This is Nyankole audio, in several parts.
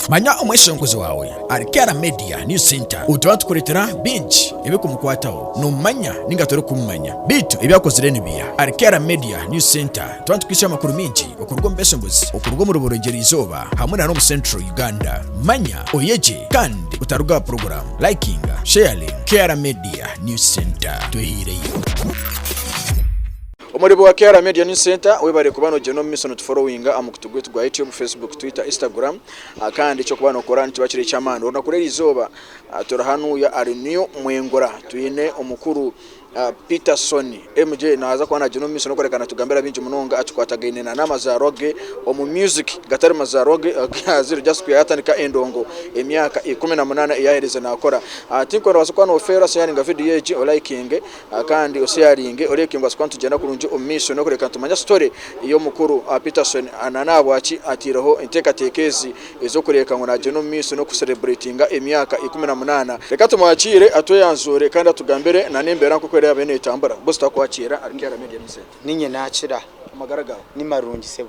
manya omweshenguzi waawe ari kera media new center obu turiba tukureetera bingi ebikumukwataho nomumanya ninga torikumumanya beitu ebi akozire nibiha ari kera media new center tuba nitukuhisha amakuru mingi okuruga omu beshenguzi okuruga omu ruburengyera izooba hamwe na n'omu central uganda manya oyegye kandi utaruga aha puroguramu likinga sharing kera media new center twehaireyo Omureebi wa KR Media News Centre, webare kuba nogyenda omu miso nituforowinga aha mukutu gwaitu gwa YouTube, Facebook, Twitter, Instagram kandi eky'okuba nokora nikiba kiri eky'amaani. Orunaku rw'eri izooba turi hanuuya ahari New Mwengura twine omukuru Peterson MJ naaza kuba nagyenda omu miso n'okworeka natugambira bingi munonga akikwatagaine na n'amazaarwa ge omu music gatari mazaarwa ge ag'ahaziire just kuhika yatandika endongo emyaka ikumi na munaana eyaheerize nakora. Tinkwe nobaasa kuba nofeerwa sharinga video egi o likinge. Kandi osya yaringe oreebke ngu ahakuba nitugyenda kurungi omu maisho n'okureka nitumanya story y'omukuru Peterson na n'ahabwaki ateireho enteekateeka ezi ez'okureebka ngu nagyenda omu maisho n'oku celebratinga emyaka ikumi na munaana. Reka tumwakiire atweyanzuure kandi atugambire na n'embeera nk'oku eraabe netambura. Buzita kwakiira Arikera Media Limited. Ninye nakira. Amagara gaawe? Ni marungi sebo.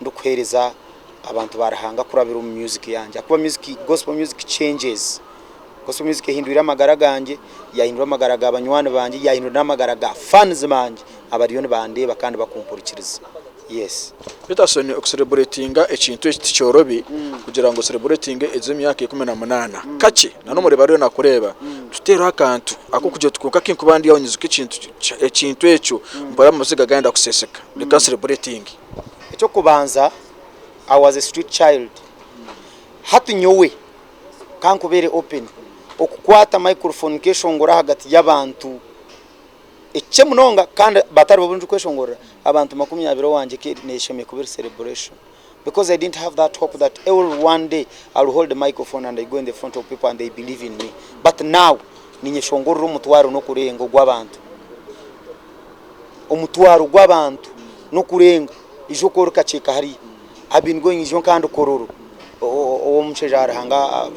Ndikuheereza abantu ba Ruhanga kurabira omu music yangye ahakuba music, gospel music changes. Gospel music ehindwire amagara gangye, yaahindura amagara ga banywani bangye, yaahindura n'amagara ga fans bangye abariyo nibandeeba kandi bakumpurikiriza. Yes. Peterson okucelebratinga ekintu eki tikyoorobi kugira ngu ocelebratinge egyo myaka ikumi na munaana. Kakye na n'omuriiba ariyo naakureeba. Tuteereho akantu ak'okugira oti kwonka akinkuba ndiyo aho nyijuka ekintu ekyo mpora amaziga gayenda kuseeseka. Reka ncelebratinge. Eky'okubanza I was a street child hati nyowe ka nkubeere open okukwata microphone nkeshongora ahagati y'abantu ekikye munonga kandi bataribo bu ndikweshongorera abantu makumi abiri owangye eka eri neshemeera kuba eri celebration because I didn't have that hope that I will one day I will hold the microphone and I go in the front of people and they believe in me but now ninyeshongorera omutwaro n'okurenga ogw'abantu. omutwaro gw'abantu n'okurenga, ija okore kakyeka hariya abingo nyijo kandi kororo owo omushija wa Ruhanga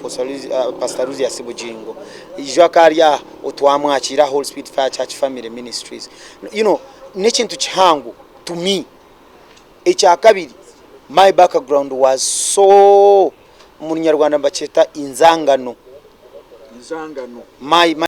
Pastor Lusius Bugingo ijo akaba ari aha twamwakire aha Holy Spirit Fire Church Family Ministries you know n'ekintu kihango to me ekyakabiri my background was so omu runyarwanda nibakyeta inzangano my my.